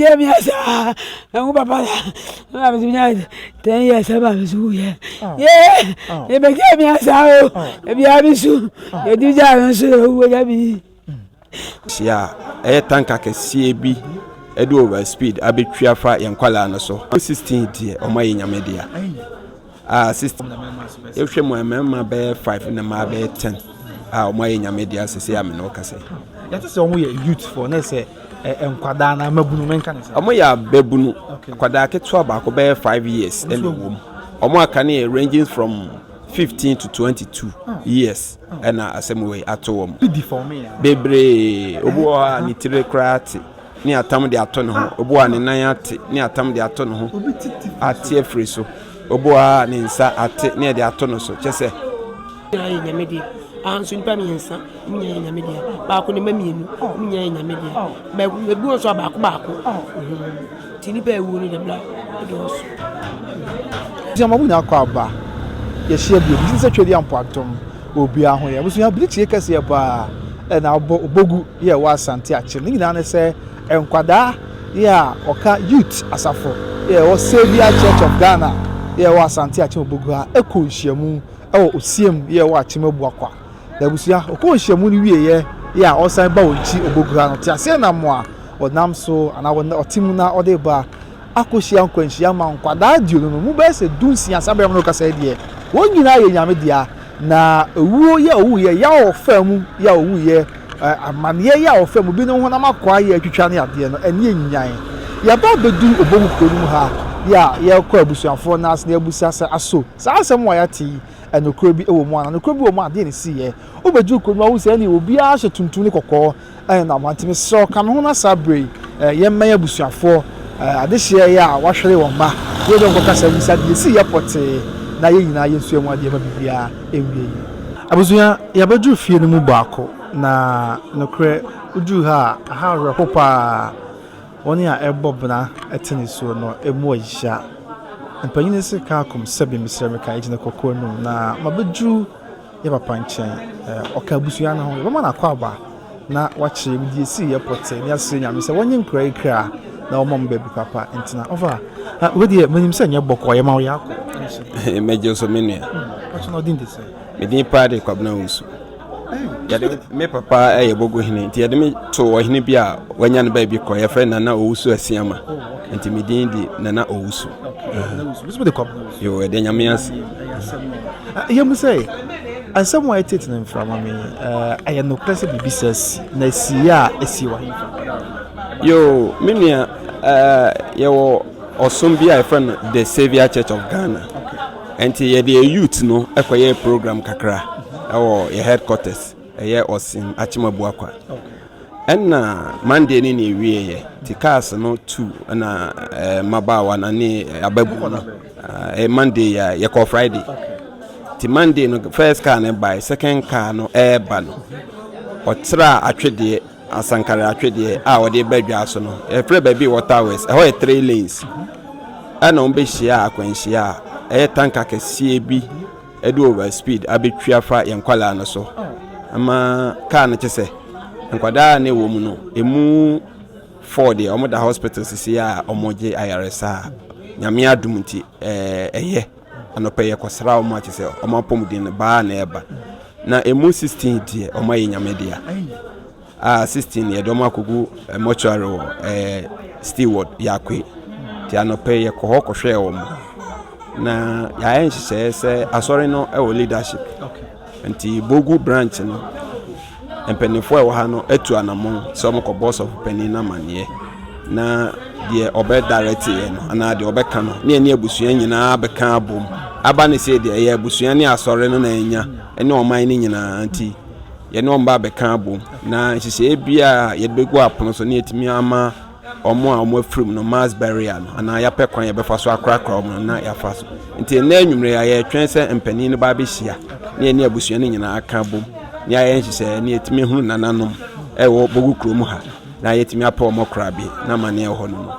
Deɛ mi asa ɛho papa la ɛna mi nya ten years ɛba mi so yɛ yee ɛbɛ gya mi asa o ebi a mi so edu gya mi so ewu gya mi. hyia ɛyɛ tanka kɛseɛ bi ɛde over speed abɛtwi afa yɛn nkwalaa no so 16 deɛ ɔma yɛ nyame dea Ah sister yɛhwɛ mu a mmarima bɛyɛ five na mmaa bɛyɛ ten a wɔn ayɛ nyame deɛ asɛ sɛ amene wo kasɛ. yɛte sɛ wɔn yɛ youth for na sɛ nkwadaa na amabunu menka ne sɛ. wɔn yɛ ababunu akwadaa ketewa baako bɛyɛ five years ɛna ɛwɔ mu wɔn aka no yɛ ranging from fifteen to twenty two ah. years ɛna asɛm wei ato wɔn bebree obi wɔ hɔ a ne tiri koraa te. ne atam de ato ne ho, obu a ne nan ate ne atam de ato ne ho ate afiri so, obu a ne nsa ate ne ɛde ato no so, kyɛ sɛ. Nyinaa yɛ nyame deɛ, anso nipa mmiɛnsa ne nyinaa yɛ nyame deɛ, baako ne mma mmienu ne nyinaa yɛ nyame deɛ, baako ebi wɔn nso a baako baako, ti nipa ewu no dɛbla ɛdɔɔso. Ti ama mo nyinaa kɔ aba, yɛhyia bio, bi sɛ twɛ di ampo atom. Obia ho yɛ abusua bere tie kɛseɛ paa ɛna abɔ obogu yɛ ɛwɔ asante akyere ne nyinaa ne sɛ nkwadaa yɛ a ɔka youth asafo yɛ ɛwɔ saviour church of Ghana yɛ ɛwɔ asante akyem obogu ha ɛkɔ nhyiamu ɛwɔ osiem yɛ ɛwɔ akyem abuakwa na abusua ɔkɔ nhyiamu no wie yɛ yɛ a ɔsan ba wɔ nkyi obogu ha no te aseɛ nam a ɔnam so anaa ɔte mu na ɔde ba akɔhyia nkwanhyia ma nkwadaa aduonu no, mu bɛyɛ sɛ dunsia saa berɛ a me ne wo kasa yi deɛ, wɔn nyinaa yɛ Nyame dea, na owuo yi a ɔwuiɛ, yaw a ɔfaa mu yi a ɔwuiɛ, amaneɛ yi a ɔfaa mu, binom honam akwaa yi a atwitwa ne adeɛ no, ani anyan. Yɛaba abɛduru Obohu kuro no mu ha yi a, yɛrekɔ abusuafoɔ no ase na yɛabisa sɛ, Aso saa asɛm a yɛate yi, nokorɛ bi wɔ mu anaa? Nokorɛ bi wɔ mu a, deɛn na ɛsiiɛ? Wobɛduru kuro no mu a, wohu sɛ ɛnneɛ obiara hyɛ tuntum ne kɔkɔɔ, Ɛyɛ no aboa. Nti mesrɛ wo, ka me ho na saa berɛ yi yɛmmɛn abusuafoɔ adehyeɛ yi a wɔahwere wɔn mma, na yɛne wɔn nkɔ kasa mmisa deɛ ɛsii yɛ pɔtee na yɛn nyinaa yɛnsua mu adeɛ ma biribiara ɛnwie yie. Abusua, yɛabɛduru fie no mu baako, na nokorɛ woduru ha a, ɛha awerɛho pa ara. Wɔn a ɛrebɔ bena te nisuo no mu ayisaa. Mpanin no se, Kaakom, Sɛbi, mesrɛ me ka, yɛgyina kɔkɔɔ anum, na mabɛduru. yɛ papa nkyɛn. Ɔka abusua no ho. Yɛbɛma no akwaaba na wakyerɛ mu. Deɛ ɛsii yɛ pɔtee na yɛasrɛ Nyame sɛ wɔnyɛ nkura yi kra na wɔma mo baabi papa ntena. Ɔfa, ah, wei deɛ menim sɛ nyɛ bɔkɔɔ yɛma wo yɛ akɔ. Mɛgye so me nua. Hmm, Pɔtɔ na ɔdin de sɛ? Medin paa de Kwabena Wusu. Yɛde me papa yɛ Bogo hene nti yɛde me to ɔhene bi a wanya no baabi kɔ yɛfrɛ Nana Owusu Asiama nti medin de Nana Owusu. Owusu de Kwabena. Yo yɛda nyame ase. Yɛ mu sɛ asɛm a ɛtete no mframa me ɛyɛ nokorɛ sɛ biribi sɛ si na ɛsi a ɛsi wɔ hefa yo me nua yɛwɔ ɔsom bi a yɛfrɛ no the savior church of ghana ɛnti yɛde youth no ɛkɔyɛ program kakra ɛwɔ yɛ headquarters Ɛyɛ ɔsen akyem abua kwa. Ɛna Monday no na ɛwieeɛ, nti cars no tu na eh, mmabaawa no ne ababu no eh, Monday yɛ yɛkɔ Friday. Nti Monday no first car no bae, second car no ɛreba no ɔtraa atwedeɛ asankare atwedeɛ a ɔde ba dwa so no yɛfrɛ baabi wɔ towers ɛhɔ yɛ three lanes ɛna wɔn bɛhyia akwanhyia a ɛyɛ tanka kɛseɛ bi ɛde over speed abɛtwi afa yɛn nkwadaa no so ama kaa no kyɛ sɛ nkwadaa ne wɔ mu no ɛmu fɔɔ deɛ wɔn da hospital sisi a wɔn gye ayaresa a nyame adum nti ɛɛ ɛyɛ anɔpɛ yɛ kɔsra wɔn akyɛ sɛ wɔn apɔmuden no baa na ɛba na ɛmu sixteen deɛ wɔn ayɛ nyame dea. A 16 yɛde wɔn akɔgu eh, mortuary wɔ eh, steward yɛakwe nti anɔpɛ yɛkɔ hɔ kɔhwɛɛ wɔn na yɛayɛ nhyehyɛeɛ sɛ asɔre no wɔ leadership nti bogu branch no mpanimfoɔ a ɛwɔ ha no atu anammɔn sɛ wɔkɔbɔ sɔfo panin no amanneɛ na deɛ ɔbɛdareteɛ no anaa deɛ ɔbɛka no ne ɛne abusua nyinaa bɛka abom aba ne sɛ deɛ ɛyɛ abusua ne asɔre no na ɛnya ɛne ɔman no nyinaa nti yɛne wɔn bɛka abom na nhyehyɛeɛ biara a yɛde bɛgu apono so na yɛtumi ama wɔn a wɔn afiri mu no mass barrier no anaa yɛapɛ kwan yɛbɛfa so akorakora wɔn no na yɛafa so nti nnɛ anwummerɛ a yɛretwɛn sɛ mpanin no ba abɛhyia na yɛne abusua no nyinaa aka abom na yɛayɛ nhyehyɛeɛ na yɛtumi hunu nananom ɛwɔ bogu kurom ha na yɛtumi apɛ wɔn kora bi na amanneɛ wɔ hɔ no mu.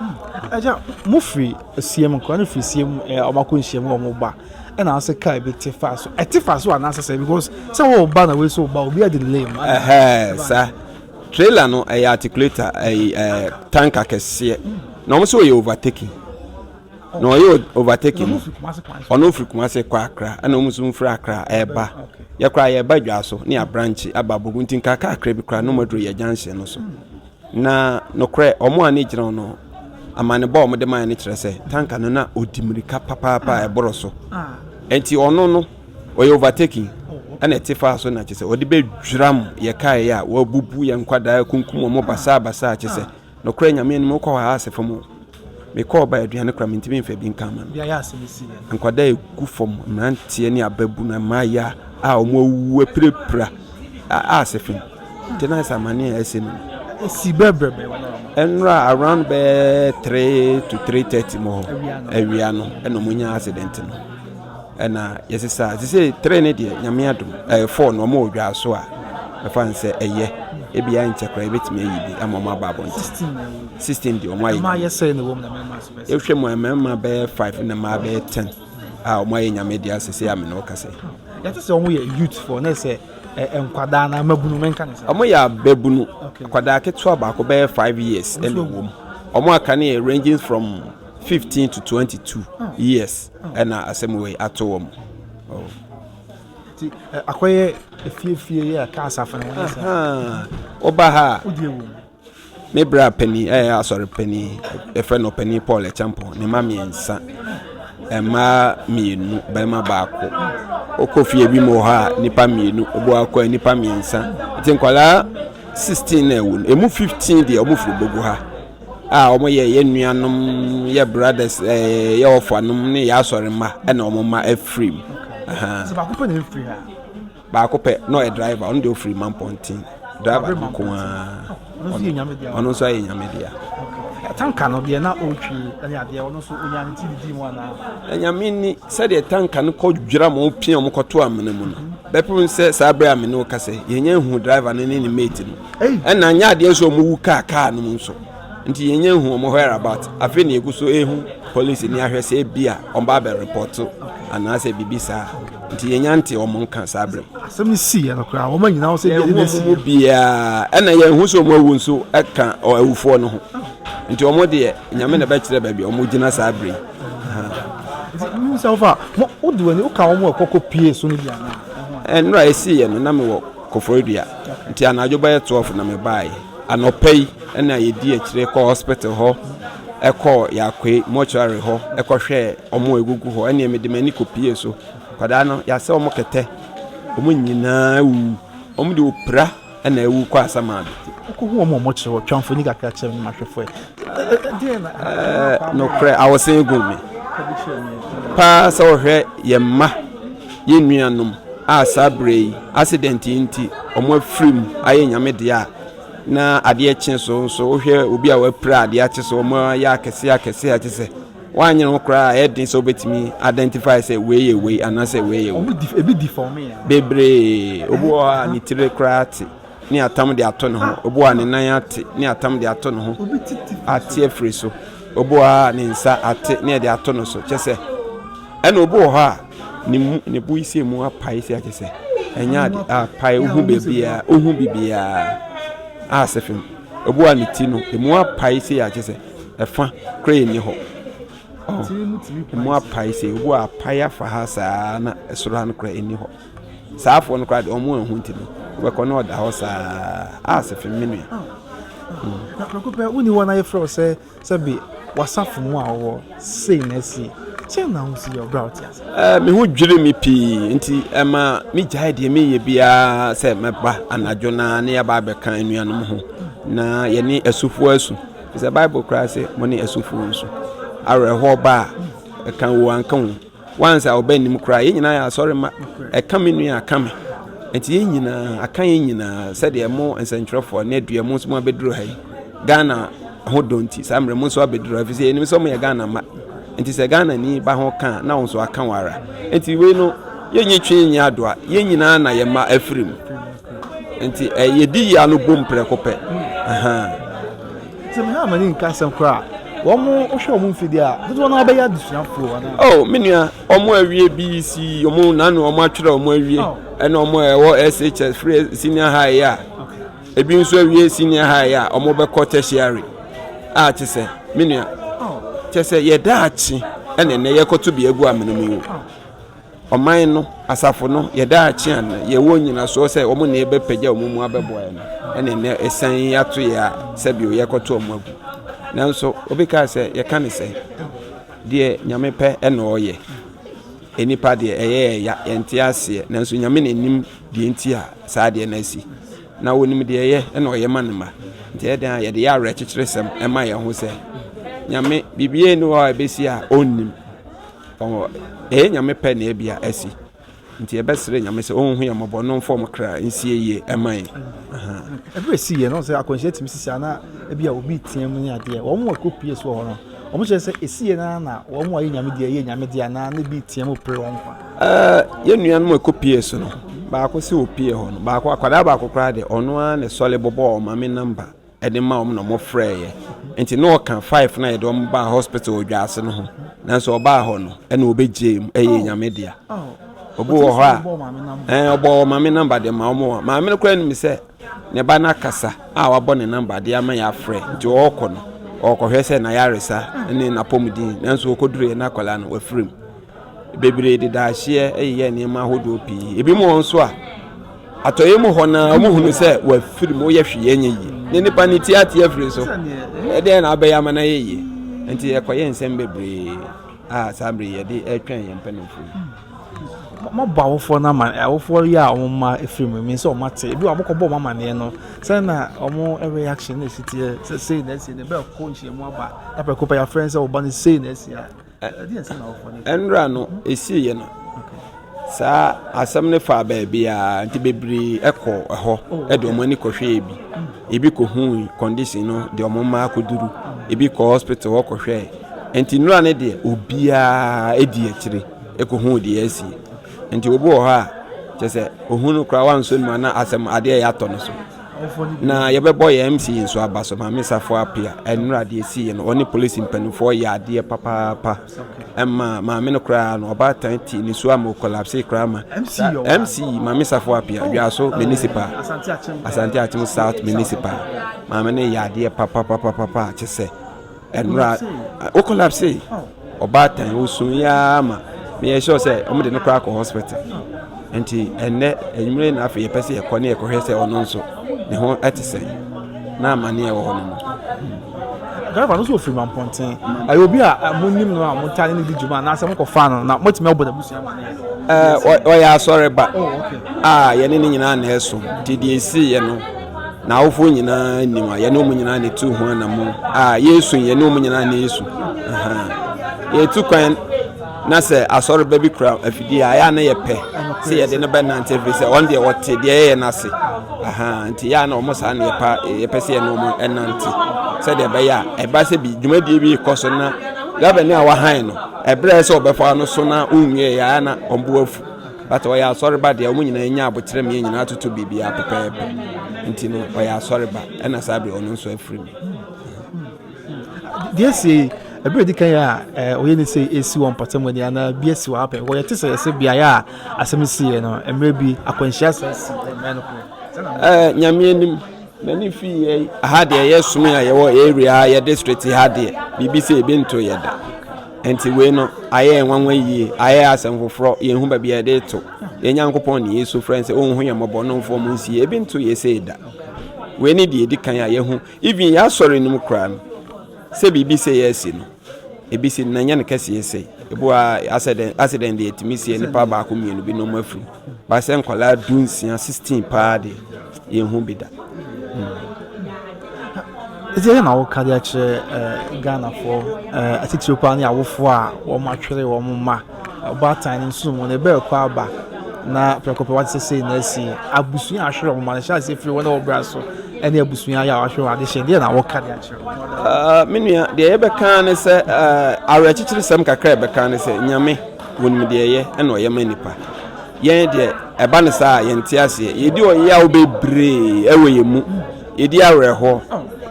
Agya, mofiri Siem, nkora no firi Siem, wɔn akɔ nhyiam wɔ wɔn ba. Ɛna ase car bi te fa so ɛte fa so anaasɛ sɛ because sɛ wɔwɔ ba na wei so ba obi adi lame ɛhɛɛ sa trailer no ɛyɛ articulator ɛyɛ ɛɛ tanka kɛseɛ na wɔn nso wɔyɛ overtaking na ɔyɛ overtaking no ɔno ofiri kumase kɔ akra ɛna wɔn nso nfiri akra ɛɛba yɛkora yɛɛba dwa so ne abranche aba bogu nti nka kakra bi kora no maduro yɛ junction no so. Na nokorɛ wɔn a ne gyina no amanebɔ a wɔde mae no kyerɛ sɛ tanka no na ɔdi mmirika papaapa a ɛboro so nti ɔno no ɔyɛ overtaking ɛna ɛte faa so na kyerɛ sɛ ɔde bɛdwiram yɛ kaeɛ a wɔabubu yɛ nkwadaa akunkum wɔn basaa basaa kyerɛ sɛ nokorɛ nyame anim wokɔ hɔ a ase fam Mekɔɔ baa aduane koraa mentumi mfa bi nka ama no. Nkwadaa a ɛgu fam, mmeranteɛ ne ababunu, mmayewa a wɔn awuwu apirapira a ase fem. Nti na sɛ amane a ɛsɛ mu. Ɛsi bɛbrɛbrɛ wɔn a wɔn. Nnora around bɛɛ three to three thirty mu hɔ awia no ɛna wɔn nya accident no. Ɛna yɛsesa te sɛ three ne deɛ nyame adom ɛyɛ four no ɔmo wɔ dwaa so a ɛfa ne sɛ ɛyɛ ebia nkyɛ koraa ebɛtumi ayi bi ama ɔmo aba abɔnten sixteen deɛ ɔmo ayɛ nyame ɛhwɛ mu a mmarima bɛyɛ five na mmaa bɛyɛ ten a ɔmo ayɛ nyame deɛ asɛ sɛ amene ɔka sɛ yɛte sɛ ɔmo yɛ youth for ne sɛ nkwadaa na amabunu menka ne sɛ ɔmo yɛ ababunu kwadaa ketewa baako bɛyɛ five years ɛna ɛwɔ mu ɔmo aka ne yɛ ranging from fifteen to twenty two years na asɛm wei ato wɔn. Akɔyɛ efie fie yɛ ka asafo no ho sɛ. Woba ha a. Wodie wom. Me bra panin ɛyɛ eh, asɔre panin ɛfrɛ no panin Paul Ɛkyɛmpɔn ne ma mmiɛnsa mmaa mmienu barima baako wokɔ fie bi mu wɔ hɔ a nnipa mmienu obu akɔ a nnipa mmiɛnsa nti nkwadaa sixteen na ɛwɔ mu emu fifteen deɛ wɔn firi bogu ha. a ɔmo yɛ yɛ nuanom yɛ brothers ɛɛ yɛ ɔfa nom ne yɛ asɔre mma ɛna ɔmo mma ɛfiri mu. sɛ baako pɛ na ɛfiri ha. baako pɛ na ɔyɛ driver ɔno deɛ ɔfiri man pɔnten driver no ko ara ɔno nso ayɛ nyame dea. tanka no deɛ na ɔretwi ɛne adeɛ ɔno nso ɔnya ne ti didi mu anaa. ɛnyame ni sɛdeɛ tanka no kɔ dwira ma ɔpia ɔmo kɔto amena mu no bɛpem sɛ saa bere amena ɔka sɛ yɛnyɛ ehu driver no ne ne mate no. Ɛna anyɛ adeɛ nso wɔn wu kaa kaa no mu nso nti yɛn nyɛ nhu wɔn where about afei na yɛgu so ehu police ni ahwɛ sɛ ebi a wɔn ba abɛ report anaasɛ biribi saa nti yɛn nya nte wɔn nka saa bere. asɛm yi si yɛn koraa wɔn nyinaa wɔn sɛ ebi ɛde na esi yɛn. biara ɛna yɛn ho so wɔn awu nso ɛka awufoɔ no ho nti wɔn deɛ nyame na ɛbɛkyerɛ baabi wɔn gyina saa bere yi. sɛ wofa mo wode w'ani woka wɔn ɛkɔkɔ pie so no bi anaa. ɛnura esi yɛn no na mewɔ. Koforidua, nti anadwo bɛyɛ twelve na mebaeɛ. Anɔpa yi na yɛdi akyire kɔɔ hospital hɔ, ɛkɔɔ Yakoe mortuary hɔ, ɛkɔhwɛɛ wɔn a ɛgugu hɔ. Ɛnneɛ mede m'ani kɔpie so. Nkwadaa no, yɛasɛ wɔn kɛtɛ. Wɔn nyinaa awuwu. Wɔn de opira na awu kɔ Asamado. Wokɔhu wɔn a wɔkyere hɔ, Twamfoni kakra kyɛm ne Mahwɛfoɛ, Ɛɛ nokorɛ awosen gu me paa sɛ wɔhwɛ yɛn mma yɛn nuanom a saa berɛ yi accident yi nti wɔn afiri mu ayɛ nyame deɛ a na adeɛ kye so nso wohwɛ obi a wapira adeɛ akye so wɔn ayɛ akɛse akɛse akye sɛ wanyere ho koraa ɛyɛ den sɛ wobɛtumi identify sɛ wei yɛ wei anaasɛ wei yɛ wei bebree obi wɔ hɔ a ne tiri koraa te ne atam de ato ne ho, obu a ne nan ate ne atam de ato ne ho ate afiri so, obu a ne nsa ate ne ɛde ato no so, kyɛ sɛ ɛna obu wɔ hɔ a ne mu ne bo isi mu apae si akyɛ sɛ ɛnyɛ ade a pae ohu baabiara ohu bibiara a sɛ fam obu a ne ti no emu apae si akyɛ sɛ ɛfa kora yɛ ni hɔ emu apae si obu a apae afa ha saa na ɛsoro ha no kora ɛni hɔ. Saa afoɔ no koraa deɛ wɔn anhu nti no, wobɛkɔ na ɔda hɔ saa ara. Ah, Sefim, me nua. Hmm. Na prɛko pɛ, wonni hɔ na yɛfrɛ wo sɛ sɛbe wasafo mu a wɔwɔ sei na asie. Sɛ na wo si yɛ ɔbrɛ a wote ase? Eh, me ho dwiri me pii nti ɛma megyae deɛ meyɛ biara sɛ mɛba anadwo na ne yɛaba abɛka anuanom ho na yɛne asufoɔ asu. Sɛ Bible koraa sɛ mo ne asufoɔ nsu. Awerɛhoɔ ba a, ɛka wo anka wo. Once a ɔbɛ nim koraa yɛn nyinaa yɛ asɔre mma ɛka me nua aka me nti yɛn nyinaa aka yɛn nyinaa sɛdeɛ mo nsɛntwerɛfoɔ ne adua mo nso mo abɛduru ha yi Ghana ho dɔ nti saa mmerɛ mo nso abɛduru ha ɛfiri sɛ yɛnim sɛ mo yɛ Ghana ma nti sɛ Ghana ni ba ho ka na wo nso aka wo ara nti wei no yɛnyi twe nyi adoa yɛn nyinaa na yɛn mma afiri mu nti eh, yɛdi yia no bom prɛko pɛ Sɛ me ne Amani nka asɛm koraa a, wɔhwɛ wɔn mfe de a, dodoɔ no ara bɛyɛ adesuafoɔ anaa? Oh, me nua, wɔn awie BEC, wɔn na ano wɔn atwerɛ wɔn awie, oh. ɛna wɔn a ɛwɔ SHS, free senior high a, ebi nso awie senior high a, wɔn bɛkɔ tertiary a te sɛ, me nua, oh. kyɛ sɛ yɛda akye ɛna ɛnɛ yɛkɔto bi agu amena mu yi. Oh. Ɔman no, asafo no, yɛ daakye a na yɛwɔ nnyinasoɔ sɛ wɔn na yɛbɛpagya wɔn mu abɛboa yɛn no, ɛne nnɛ asian yi ato yɛ a sɛbio yɛkɔto wɔn agu. Nanso, obi kaa sɛ, yɛka no sɛ, Deɛ Nyame pɛ na ɔyɛ. Nnipa deɛ, ɛyɛ yɛn ya, yɛnte aseɛ, nanso Nyame na nim deɛ nti a saa adeɛ no asi. Na ɔnim deɛ ɛyɛ na ɔyɛ ma ne mma. Nti ɛyɛ dɛn a yɛde yɛ awerɛkyekyeresɛm ma yɛn ho sɛ, Nyame, biribiara nni hɔ a ɛbɛsi a ɔnnim. Ɔwɔ, ɛyɛ Nyame pɛ na ebia asi. Nti yɛbɛsrɛ Nyame sɛ Ɔnhu yɛn mmɔbɔ na Ɔmfa wɔn kra nsie yie mma yɛn. Ɛberɛ a ɛsii yɛ no, sɛ akwanhyia tumi sisi anaa ebia obi reteam ne adeɛ, wɔn a ɛkɔpue soɔ hɔ no, wɔkyerɛ sɛ ɛsi yɛ no ara na wɔn a ɛyɛ Nyame deɛ yɛ Nyame deɛ anaa na ebi reteam repere wɔn kwa? Yɛn nuanom a ɛkɔpue so no, baako se ɔpue hɔ no, baako, akwadaa baako koraa deɛ, ɔno ara na ɛsɔre bɔbɔɔ ɔmame nɔmba. de ma wɔn na wɔfrɛɛ yɛ nti na ɔka five na yɛde wɔn baa hospital odwaase no ho nanso ɔbaa hɔ no ɛna ɔbɛgyee mu ɛyɛ oh. nyame dea oh. obi wɔ hɔ a ɛn ɔbɔ wɔ maame namba de ma wɔn a maame no kora nim sɛ ne ba no akasa a wabɔ ne namba de ama yɛ afrɛ nti ɔrekɔ no ɔrekɔhwɛ sɛ n'ayaresa ne n'apɔmuden nanso ɔkɔduru yɛ n'akwadaa no wafiri mu. Bebree de daahyeɛ yeyɛ nneɛma ahodoɔ pii. Ebi mu wɔn nso a, atɔeɛ mu hɔ no ara wɔhunu sɛ wɔafiri mu yɛ hwee ɛnyɛ yie. Ne nipa ne ti ate afiri so. Ɛdeɛ na abɛyɛ ama no ayɛ yie. Nti ɛkɔyɛ nsɛm bebree a saa bere yɛde ɛretwɛn yɛn mpanimfoɔ yi. Mabɔ awofoɔ no ama awofoɔ yi a wɔn mma afiri mu mi sɛ wɔn ate. Ebi wɔ wɔn kɔbɔ wɔn amaneɛ no sɛ na wɔn reaction na ɛsi teɛ sɛ sei na ɛsi na ɛbɛkɔ nhyiamu aba ɛpɛko pɛ yɛafrɛ sɛ wɔba no sei na ɛsi a. Nnora no ɛsiiɛ no, saa asɛm no faa baabiara nti bebree kɔɔ hɔ de wɔn ani kɔhwɛɛ bi. Ebi kɔhui condition no de wɔn mma akɔduru, ebi kɔɔ hospital hɔ kɔhwɛɛ. Nti nnora no deɛ obiara di akyire kɔhuu deɛ asi. Nti obi wɔ hɔ a kyɛ sɛ ohunu koraa wansɔ ne mu ana asɛm adeɛ yɛatɔ no so. Na yɛbɛbɔ yɛn MC nso aba so, Maame Safo Apia. Nnora deɛ ɛsiiɛ no, ɔne polisi mpanimfoɔ yɛɛ adeɛ papaapa. Ɛma maame no koraa no, ɔbaatan ti ne su ama ɔkolapsee koraa ma MC Maame Safo Apia, Dwaso Municipal, Asante Akyem South Municipal. Maame no yɛɛ adeɛ papapapapa te sɛ. Ɛnora o collapse ei ɔbaatan osun yi ara ma meyɛ sure sɛ wɔn de no koraa kɔ hospital nti ɛnɛ enyimire na afei yɛpɛ sɛ yɛkɔ ne yɛkɔhwɛ sɛ ɔno nso ne ho ɛte sɛn na amaneɛ wɔ hɔ no mu. driver no nso ofiri ma mpɔnten ɛyɛ obi a eh, mo nim no a mo ntaa ne ne di dwuma anaasɛ mo kɔ fa no na mo atumi abɔ n'abusua ma ne yɛ. ɔyɛ asɔre ba oh, a yɛne ne nyinaa na ɛso nti deɛ esi yɛ no. N'awofo nyinaa nim a yɛne wɔn nyinaa na etu ho anammɔn. A Yesu yɛne wɔn nyinaa na Yesu. Yɛtu kwan na sɛ asɔreba bi kura afidie a yɛa na yɛpɛ sɛ yɛde no bɛnante ɛfiri sɛ ɔno deɛ ɔte deɛ yɛyɛ no ase nti yɛa na ɔmo saa na yɛpa yɛpɛ sɛ yɛne ɔmo ɛnante sɛdeɛ ɛbɛyɛ a ɛba sɛ bi dwumadie bi kɔ so na gavani a wahan no ɛberɛ sɛ ɔbɛfa no so na ɔnwie yɛa na ɔmboafu But ɔyɛ asɔre ba deɛ ɔmo nyinaa anya aboterɛ mmiɛ nyinaa atoto biribiara pɛpɛɛpɛ nti no ɔyɛ asɔre ba ɛna saa bere ɔno nso afiri mu. Deɛ sie ɛbɛrɛ di kan yɛ a ɛɛ ɔyɛ ne sɛ esi wɔn mpɔtam ani anaa bi esi wɔn apɛ wɔyɛ te sɛ ɛsɛ beaeɛ a asɛm si yɛ no mmerɛ bi akwanhyia sɛ si ɛmɛ no ko. Ɛɛ nyame anim. N'ani fii yɛn. Aha deɛ yɛ som a yɛwɔ area ha yɛ district ha deɛ biribi sɛ ebi nto yɛ da nti wei no ayɛ nwanwa yie ayɛ asɛm foforɔ yɛn ho baabi a yɛde to yɛn nyankopɔn ne yesu frɛ sɛ ɔnhu yɛn mmɔbɔ no mfɔ mu nsie ebi nto yɛ sɛ da wei ne deɛ edi kan a yɛho even yɛasɔre no mu koraa no sɛ biribi sɛ yɛasi no ebi si na nyɛ no kɛseɛ sɛ ebi wɔ accident accident deɛ etumi sie nipa baako mmienu bi na wɔn afiri Ba sɛ nkwadaa du nsia sixteen paa deɛ yɛn hu bi da. Ɛdi ɛyɛ na woka de akyerɛ eh, Ghanafoɔ eh, atitire paa ne awofoɔ a wɔn atwere wɔn mma ɔbaatan no nso mu no ɛbɛɛ kɔ aba na prɛko pɛ wate sɛ sei na asi abusua ahwere wɔn mma no hyɛ ase firi wɔn a wɔbra so ɛne abusua yɛ a wɔahwere wɔn adehyɛ deɛ na woka de akyerɛ ah, me nua deɛ yɛbɛka ne sɛ ah, awerɛkyekyere sɛm kakra ɛbɛka ne sɛ nyame Wɔnim deɛ ɛyɛ ɛna ɔyɛ ma nipa. Yɛn deɛ ɛba no saa a yɛnte aseɛ. Yɛdi ɔyaw bebree ɛwɔ yɛn mu. Yɛdi awerɛhoɔ.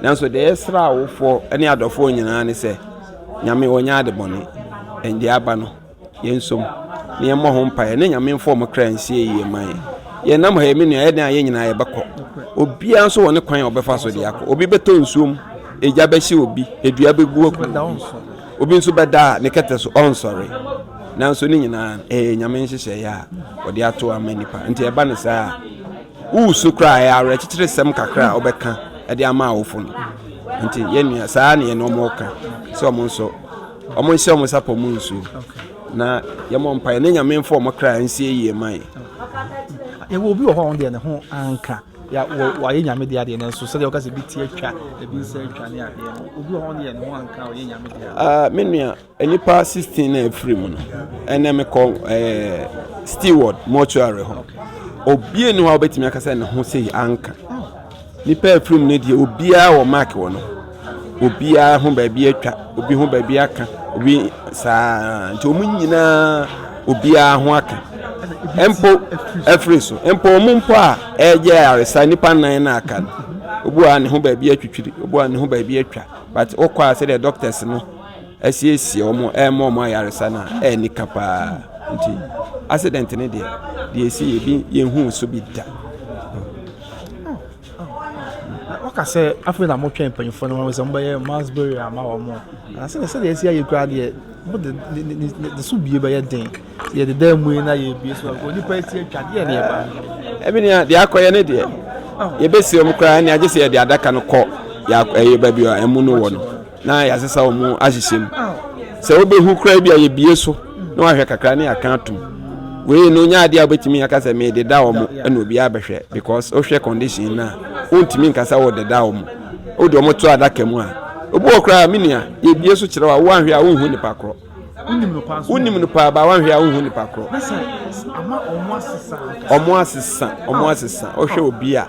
Nanso deɛ yɛsrɛ awofoɔ ne adɔfoɔ nyinaa ne sɛ Nyame ɔnyɛ ade bɔne. Ɛn deɛ aba no yɛnsom na yɛmmɔ ho mpaeɛ na Nyame mfa wɔn kra nsie yie mma yɛn. Yɛnam ha yi me nua ɛyɛ dɛn a yɛn nyinaa yɛbɛkɔ. Obiara nso wɔ ne kwan a ɔbɛfa so de akɔ. Obi bɛtɔ nsuo mu, egya bɛhye obi, dua bɛgu obi. Obi nso bɛda a ne kɛtɛ so ɔnsɔre. Nanso ne nyinaa no, ɛyɛ Nyame nhyehyɛeɛ a ɔde ato ama nnipa. Nti ɛba no saa a, woresu koraa ɛyɛ awerɛkyekyeresɛm kakra a wobɛka de ama awofo no. Nti yɛn nua, saa ne yɛne wɔn reka sɛ wɔn nso wɔn nhyɛ wɔn nsa pɔ mu nsuo na yɛmmɔ mpaeɛ na Nyame mfa wɔn kra nsie yie ma yɛn. Yɛwɔ obi wɔ hɔ a ɔno deɛ ne ho anka. Ya wɔ wayɛ nyame deɛ adeɛ nanso sɛdeɛ ɔka sɛ bi ti atwa ebi nsa atwa ne adeɛ no obi wɔ hɔ no yɛ ne ho anka ɔyɛ nyame deɛ ah, me nua nnipa 16 na ɛfiri mu no ɛnɛ mekɔ eh, steward mortuary hɔ obie ne hɔ a wobɛtumi aka sɛ ne ho sei anka nnipa afiri mu no deɛ obiaa wɔ mark wɔ no obiara ho baabi atwa, obi ho baabi aka, obi saa ara nti wɔn nyinaa obiara ho aka. Mpo afiri so, mpo wɔn mpo a ɛreyɛ ayaresa nnipa nnan na aka no, obi a ne ho baabi atwitwiri, obi a ne ho baabi atwa, but wokɔ a sɛdeɛ doctors no asiesie wɔn ɛrema wɔn ayaresa no a ɛyɛ nika paa nti accident no deɛ deɛ ɛsi yɛ bi yɛnhuu so bi da. Ɔka sɛ afei na wɔtwɛn mpanyinfoɔ no wɔn sɛ wɔbɛyɛ mass burial ama wɔn na sɛdeɛ sɛdeɛ ɛsi ayɛ koraa deɛ wɔde ne ne ne ne so bie bɛyɛ den sɛ yɛde dan mu yi na yɛbie so a onipa esi atwa deɛ ne ɛba. ɛbi ni a deɛ akɔyɛ ne deɛ yɛbɛsi wɔn koraa ne agye sɛ yɛde adaka no kɔ yɛ ɛyɛ baabi a ɛmu no wɔ no. na yɛasesa wɔn ahyehyɛ mu sɛ wobɛhu koraa bi a yɛbie so na wahwɛ kakra ne aka atom wei no nyɛ adeɛ a wobɛtumi aka sɛ mededa wɔ mo ɛna obiara bɛhwɛ because wohwɛ condition no a wontumi nkasa wɔ deda wɔ mo wode wɔn to adaka mu a obi wɔ koraa me nua yɛbie so kyerɛ wo a woanhwɛ a wonhu nipa korɔ wonim no paa ba wanhwɛ a wohu nipa korɔ ɔmo asesa ɔmo asesa ɔhwɛ obi a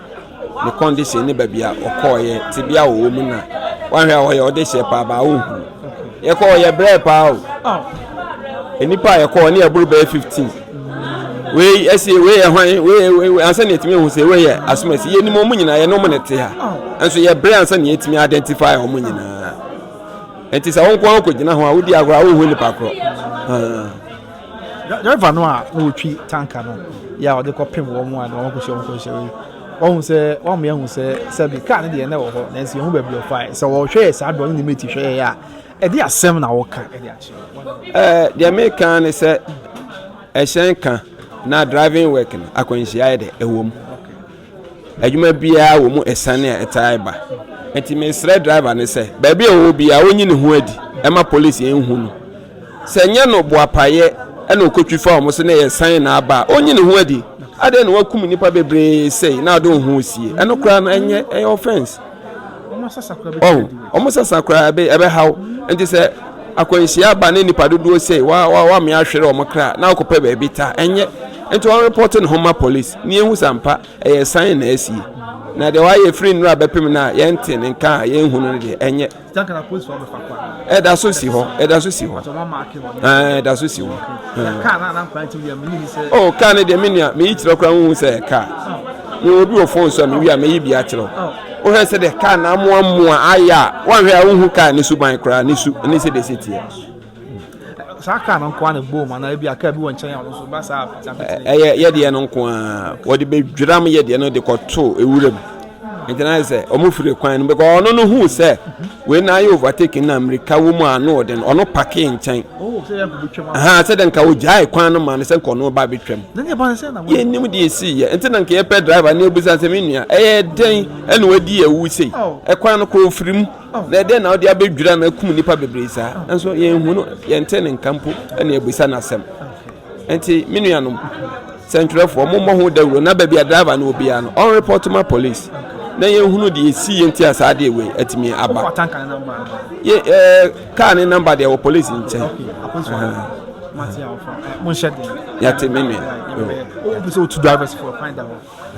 ne condition ne baabi a ɔkɔɔyɛ te bi a ɔwɔ mu na wanhwɛ a ɔyɛ ɔde hyɛ paa ba wohu yɛkɔ ɔyɛ brɛ paa o oh. nipa a yɛkɔ ɔne ɛboro bɛyɛ fifteen wei ɛsɛ wei yɛ hwan wei wei ansa na yɛtumi ehu sɛ wei yɛ asomasi yɛnim ɔmo nyinaa yɛne ɔmo na ɛte ha oh. nso yɛ brɛ ansa na yɛtumi identify ɔmo nyinaa. Nti sɛ wo nko ara wokɔgyina ho a, wodi agorɔ a wonhu nipa korɔ. Driver no a na ɔtwi tanka no yɛ a ɔde kɔpem wɔn a na wɔakɔhyia wɔn kɔnhyia yi, wahu sɛ wamma yɛahu sɛ sɛbe kaa no deɛ na ɛwɔ hɔ nanso yɛhu baabi ɔfaeɛ. Sɛ wɔhwɛ yɛ saa berɛ ɔne ne mate hwɛ yɛ a, ɛde asɛm na wɔka de akyerɛ. Deɛ meka ne sɛ ɛhyɛn ka na driving work no akwanhyia yɛ dɛ ɛwɔ mu. Adwuma biara wɔ mu asiane a ɛtaa ba. Enti mesrɛ driver no sɛ baabi a ɔwɔ biara ɔnyi ne ho adi ɛma polisi nhu no. Sɛ nyɛ no boapayɛ ɛna ɔkɔtwi fa wɔn so na ɛyɛ san na aba a ɔnyi ne ho adi. Adɛn na wakum nnipa bebree sei na ɔde wo ho sie? Ɛno koraa no ɛnyɛ ɛyɛ offense. Ɔho, wɔn sasa koraa ɛbɛ ɛbɛhaw. Enti sɛ akwanhyia aba ne nnipa dodoɔ sei wa wa wa me ahwere wɔn kra na akɔpɛ baabi ta ɛnyɛ. Enti wɔn report ne ho ma polisi. Na yɛhu sɛ ampa ɛyɛ san na asi, na deɛ wayɛ firi nnora bɛpem no a yɛnte ne nka a yɛnhu no no deɛ, ɛnyɛ. Ɛda so si hɔ, ɛda so si hɔ, ɛda so si hɔ. O kaa no deɛ me nua, meyi kyerɛ koraa wohu sɛ ɛyɛ kaa. Mewɔ obi wɔ fon so a mewie a meyi bi akyerɛ wohwɛ sɛ deɛ kaa na amoa mmoa ayɛ a woanhwɛ a wohu kaa ne suban koraa ne su ne sɛdeɛ ɛsɛ teɛ. Saa kaa no nko ara na ɛbom anaa ebi a kaa bi wɔ nkyɛn a ɔno nso ba saa a. Ɛyɛ yɛdeɛ no nko ara wɔde bɛdwiram yɛdeɛ no de kɔto ewuram nti na sɛ wɔn firi kwan no bɛkɔ ɔno no hu sɛ wei na ayɛ overtake na mmirika wɔ mu a ano ɔde no ɔno pake nkyɛn oh, ha sɛ dɛ nka ogyae kwan no ma no sɛ nka ɔno ba bɛtwam yɛnim deɛ ɛsii yɛ nti na nka yɛpɛ driver ne ɛbusa sɛ me nua ɛyɛ dɛn ɛna wadi awu sei oh. ɛkwan no kɔ ɔfirim Na ɛdeɛn na wode abɛdwira no akum nnipa bebree saa, nanso yɛnhu no, yɛntee ne nka mpo na yɛabisa no asɛm. Enti, me nuanom sɛntwerɛfoɔ, mommɔ ho dawuro na baabi a driver no wɔ biara no, ɔnrepɔto ma police na yɛnhunu deɛ ɛsiiɛ nti a saa adeɛ wei atumi aba. Yɛ, eh, kaa ne namba deɛ wɔ police nkyɛn. Yɛte me nua.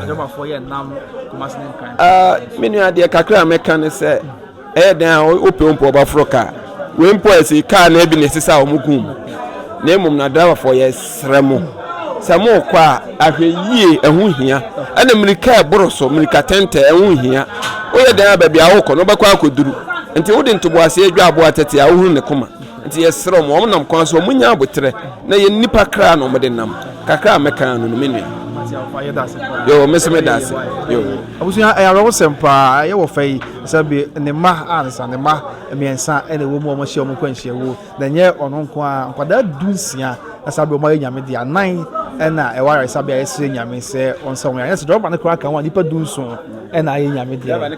Adwamafoɔ yɛ nam Kumasi ne Nkran. Ah, me nua deɛ kakra a mɛka ne sɛ ɛyɛ dɛn a wopɛ wo mpɔ ɔbaforo kaa wei mpɔ ɛsi kaa na ebi na ɛsi sɛ a wɔn kum na mmom na driverfoɔ yɛ srɛ mo sɛ mo kɔ a ahwɛ yie ɛho hia ɛna mmirika ɛboro so mmirika tɛntɛ ɛho hia woyɛ dɛn a baabi a wokɔ no wobɛkɔ akɔduru nti wode ntoboaseɛ dwa aboa tɛte a wohunu ne koma Nti yɛsrɛ wɔn, wɔnam kwan so, wɔnyɛ aboterɛ, na yɛn nnipa kra na wɔde nam. Kakra a mɛka ara no no, me nua. Yoo, me nso meda ase. Yoo. Abusua, ɛyɛ awerɛhosɛm paa. Ɛyɛ wɔ fɛ yi, sɛ bi ne mma ansa, ne mma mmiɛnsa na ɛwɔ mu a wɔahyia wɔn nkwanhyia wuo. Na ɛnyɛ ɔno nko ara, nkwadaa du nsia na saa bere wɔn ayɛ nyame deɛ anan na ɛwɔ ayaresabea yɛsrɛ nyame sɛ ɔnsa wɔn yare. Ɛnyɛ sɛ dɔm ba no koraa ka ho a, nnipa du nson. ɛna ayɛ nyame deɛ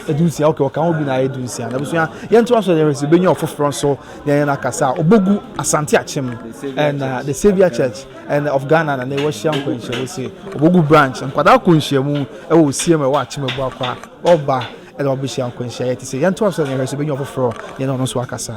adunsia ok ɔka ho bi na ayɛ dunsia na abusua yɛnto aso yɛn sɛ bɛnya ɔfoforɔ nso yɛn yɛn akasa a ɔbɛgu asante akyem ɛna the saviour church ɛna of ghana na na ɛwɔ hyia nkɔ nhyiamu se ɔbɛgu branch nkwadaa kɔ nhyiamu ɛwɔ osiem ɛwɔ akyem ɛbu akwa ɔba ɛna ɔbɛhyia nkɔ nhyia yɛ te sɛ yɛnto aso yɛn sɛ bɛnya ɔfoforɔ yɛn ɔno nso akasa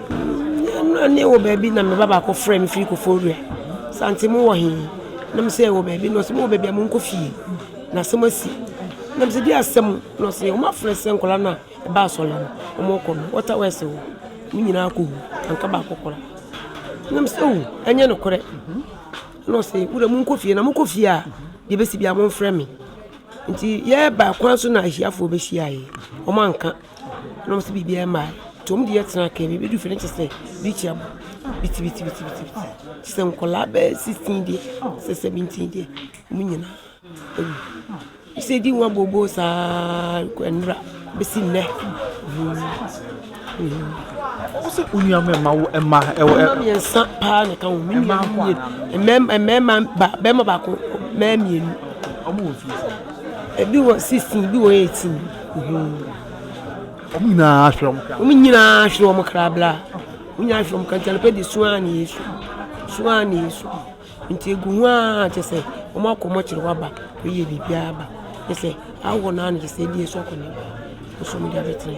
Nna ne wɔ baabi na me ba baako frɛ me firi Koforidua sɛ aunty mo wɔ he? Na me se yɛwɔ baabi na ɔse mo wɔ baabi a monkɔ fie na asɛm asi. Na me se deɛ asɛm? Na ɔse wɔn afrɛ sɛ nkwadaa no a ɛba asɔre no wɔrekɔ no water wɛse hɔ wɔn nyinaa akɔ hu anka baako koraa. Na me se oo ɛnyɛ nokorɛ. Na ɔse wo deɛ monkɔ fie na mokɔ fie a deɛ ɛbɛsi biara momfrɛ me. Nti yɛreba kwan so na ahiafoɔ bɛhyiaeɛ wɔanka. Na ɔsɛ biribi ama nti wɔn de yɛ tena kan bi bɛduru fie no kyɛ sɛ birikyia bɔ bitibitibitibiti kyɛ sɛ nkwadaa bɛyɛ sixteen deɛ sɛ seventeen deɛ wɔn nyinaa awu sɛ ɛdi nwa booboo saa ara kɔ nnora bɛsi nnɛ. Wosɛ onua mɛ ma wo ɛma ɛwɔ ɛ. Mmiɛnsa paa na ka ho mi nua mmienu mmɛɛma mmɛɛma ba bɛɛma baako mɛɛ mmienu. Wɔn wɔ fie sɛ. Ebi wɔ sixteen ebi wɔ eighteen. Wɔn nyinaa hwere wɔn kra. Wɔn nyinaa hwere wɔn kra bla. Wɔn nyinaa hwere wɔn kra nti anɔpa de sua ne Yesu. Sua ne Yesu. Nti egu ho ara kyɛ sɛ wɔn akɔ wɔn akyere hɔ aba kɔ yɛ biribi aba. Kyɛ sɛ awɔ naa no kyɛ sɛ ebi esu akɔ ne. Nso wɔn de abɛtena.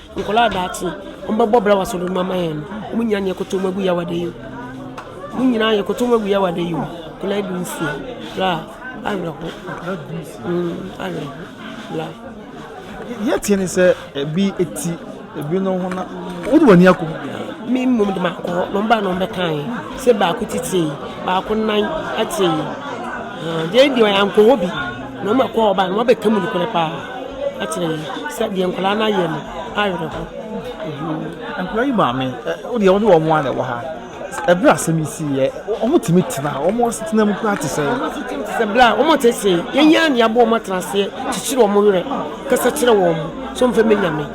Nkɔlaa a daakye ɔmo bɛ bɔ bra wɔ asɔr no mu ama hɛn no, hom nyina yɛkotow mu egu Yawadɛ yi mu. Hom nyina yɛkotow mu egu Yawadɛ yi mu, Nkɔlaa du nsia, bra, awerɛhow, mm, awerɛhow, bra. Yɛtse no sɛ bi tsi bi no ho na wode w'ani akɔ mu. Me mmom de makɔ hɔ na wɔn baa na wɔn bɛkae sɛ baako ti tee, baako nan tee. Deɛ deɛ ɔyɛ ankɔ hɔ bi. Na wɔn a ɛkɔɔ ɔbaa no wɔabɛka mu nokorɛ paa akyerɛ yɛn sɛ deɛ nkwadaa no ayɛ no awerɛho. Nkwadaa yi maame wodeɛ wɔde wɔn a na ɛwɔ ha ɛberɛ asɛm yi si yɛ wɔn tumi tena wɔn asetena mu koraa te sɛ. wɔn asetena te sɛ berɛ a wɔn te se yɛn yɛn a ne abɔ wɔn atena aseɛ kyekyere wɔn werɛ kasa kyerɛ wɔn so mfɛ mɛ nyame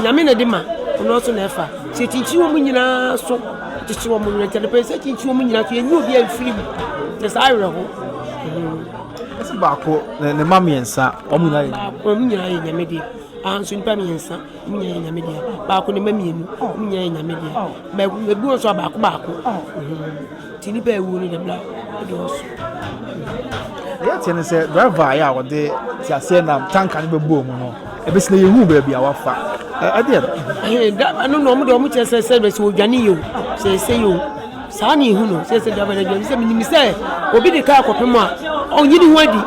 nyame na de ma ɔno nso na ɛfa sɛ kyinkyin wɔn nyinaa so kyekyere wɔn werɛ nti adepɛ sɛ kyinkyin wɔn nyinaa so yɛnyɛ obi amfiri mu te saa awerɛho Ɛsɛ baako na ne mma mmiɛnsa wɔn nyinaa yɛ. Baako wɔn nyinaa yɛ nyame deɛ. Anso nipa mmiɛnsa wɔn nyinaa yɛ nyame deɛ. Baako ne mma mmienu wɔn nyinaa yɛ nyame deɛ. Mɛ ebi wɔn nso a baako baako. Ti nipa ewu no dɛm la ɛdi ɔso. Yɛ tiɛ ne sɛ driver ayɛ a wɔde ti aseɛ nam tanka ne bɛ bɔ mu no ebesi na yɛ hu baabi a wafa ɛdeɛ. Ɛno na wɔn de wɔn kyerɛ sɛ sɛ bɛ sɛ odwane yɛ o sɛ ɛsɛ yɛ o. Saa na ehu no sɛ sɛ dwabɔ na dwabɔ sɛ menim sɛ obi de kaa kɔpem a ɔnyi ne ho adi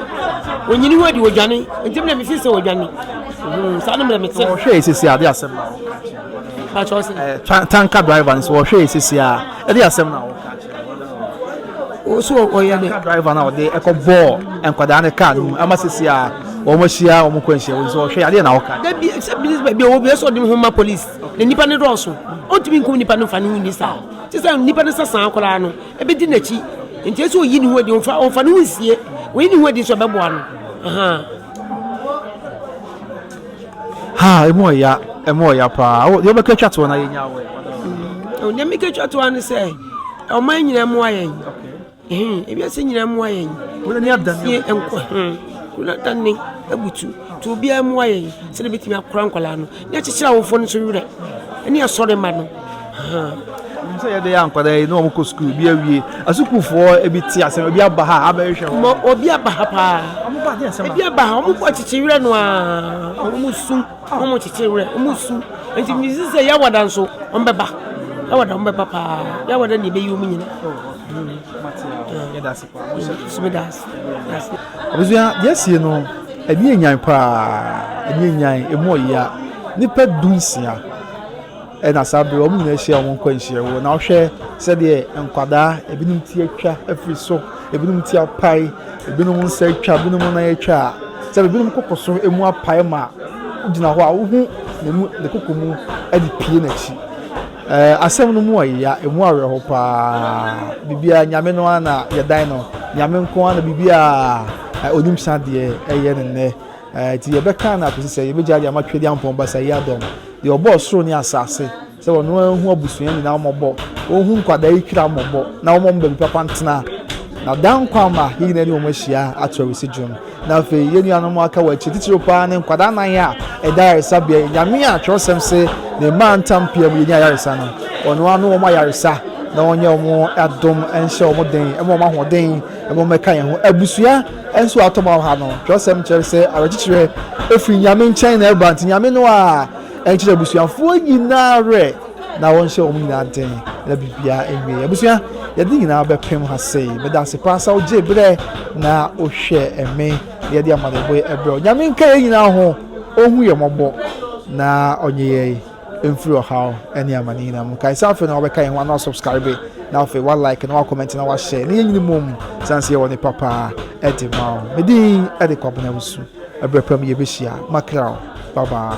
ɔnyi ne ho adi ɔdwane nti mmerɛ mefi sɛ ɔdwane hmm, saa no mmerɛ mete ɔhwɛ ɛsisi ade asɛm na ɔka kyerɛ sɛ eh, tanka driver no sɛ ɔhwɛ ɛsisi a ɛde asɛm na ɔka kyerɛ ɔso ɔyɛ ne driver na ɔde ɛkɔ bɔɔ nkwadaa ne kaa no mu ama sisi a wɔn ahyia wɔn kɔ nhyia wɔn nso ɔhwɛ adeɛ na ɔka dabi sɛ bi bi ɔwɔ bi ɛsɛ ɔde ho ma police na nipa ne dɔɔso ɔntumi nkum nipa no fa ne ho ni saa Te sɛ nnipa no sasaa koraa no, ɛbɛdi n'akyi. Nti ɛsɛ ɔyi ne ho adi, ɔmfa ɔmfa ne ho nsie. Ɔyi ne ho adi nso ɛbɛboa no. Ahaa. Ha, ɛmu ɔya, ɛmu ɔya paa. Deɛ ɔbɛka atwa toɔ na yɛnya awɔ. Deɛ meka atwa toɔ ne sɛ, ɔman nyinaa mmoa yɛn. He, ewiase nyinaa mmoa yɛn. Wura ni adan sie nkɔ he, wura adan ne abutu. Nti obiara mmoa yɛn sɛdeɛ bɛtumi akora nkwadaa no ne akyekyere awofoɔ no nso werɛ ne asɔre ma no. Nim sɛ yɛde yɛ nkwadaa yi na wɔn kɔ sukuu bi awie. Asukuufoɔ ebi te ase na ebi aba ha abɛhwehwɛ wɔn. Obi aba ha paa. Ebi aba ha wɔn kɔ akyekyere werɛ no a wɔn sum. Wɔn kyekyere werɛ, wɔn su. Nti megye di sɛ Yawada nso wɔbɛba. Yawada wɔbɛba paa. Yawada na ebeyi wɔn nyinaa. Abusua yɛsie no ɛni enyan paa ɛni enyan emu ɔya nipa du nsia. Ɛna saa bere wɔn nyinaa hyia wɔn nkwanhyia wɔ. Na ɔhwɛ sɛdeɛ nkwadaa, ebinom ti atwa afiri so, ebinom ti apae, ebinom nsa atwa, ebinom nan atwa a, sɛ ebinom koko so emu apae ma gyina hɔ a, wohu ne mu ne koko mu de pie n'akyi. Ɛɛ asɛm no mu ɔya, emu awerɛho paa. Biribiara nyame no ara na yɛdan no. Nyame nko ara na biribiara onim sadeɛ ɛyɛ ne nnɛ. Enti yɛbɛkan no akosi sɛ yebegyae de ama Twɛdi Ampɔn Basa yi adom, deɛ ɔbɔɔ soro ne asase, sɛ ɔno ara nhu abusua nyinaa mmɔbɔ, onhu nkwadaa yi twira mmɔbɔ, na ɔmma wɔn baabi papa ntena, na daa nkwa mma yɛn nyinaa ne wɔn ahyia ato awisi dwom. Na afei, yɛn nuanom a wɔaka wɔ akyiri, titiriw pa ara ne nkwadaa nnan a ɛda ayaresabea yi, Nyame a Twerɛsɛm se ne mmaa ntam pia mu yɛnya ayaresa no, ɔno ara ne wɔn ayaresa, na ɔnyɛ wɔn adom nhyɛ wɔn den, ɛmma wɔn ahoɔden, na ɛmma wɔmmɛka yɛn ho. Abusua! Nso atom wɔ ha no, twerɛsɛm kyerɛ sɛ awerɛkyekyerɛ firi Nyame nkyɛn na ɛba, nti Nyame no a ɛnkyerɛ abusuafoɔ nyinaa awerɛ na wɔnhyɛ wɔn nyinaa den na biribiara nwie. Abusua, yɛde nyinaa bɛpem ha sei. Meda ase paa sɛ wogye berɛ na wohwɛ me na yɛde amanebɔ ɛbrɛ wo. Nyame nka yɛn nyinaa ho, ɔnhu yɛn mmɔbɔ na ɔnye yɛn. mfiri ɔhaw ne amane nyinaa mu. Kae sɛ afei na wabɛka yɛn ho ana wasubscribe na afei wa like na wa comment na wa share. Ne yɛn nyini mom sane sɛ yɛwɔ ne papa ɛde ma o. Medin ɛde kwabena wusu. Ɛbrɛ pam yɛbɛhyia. Makra o. Bye bye.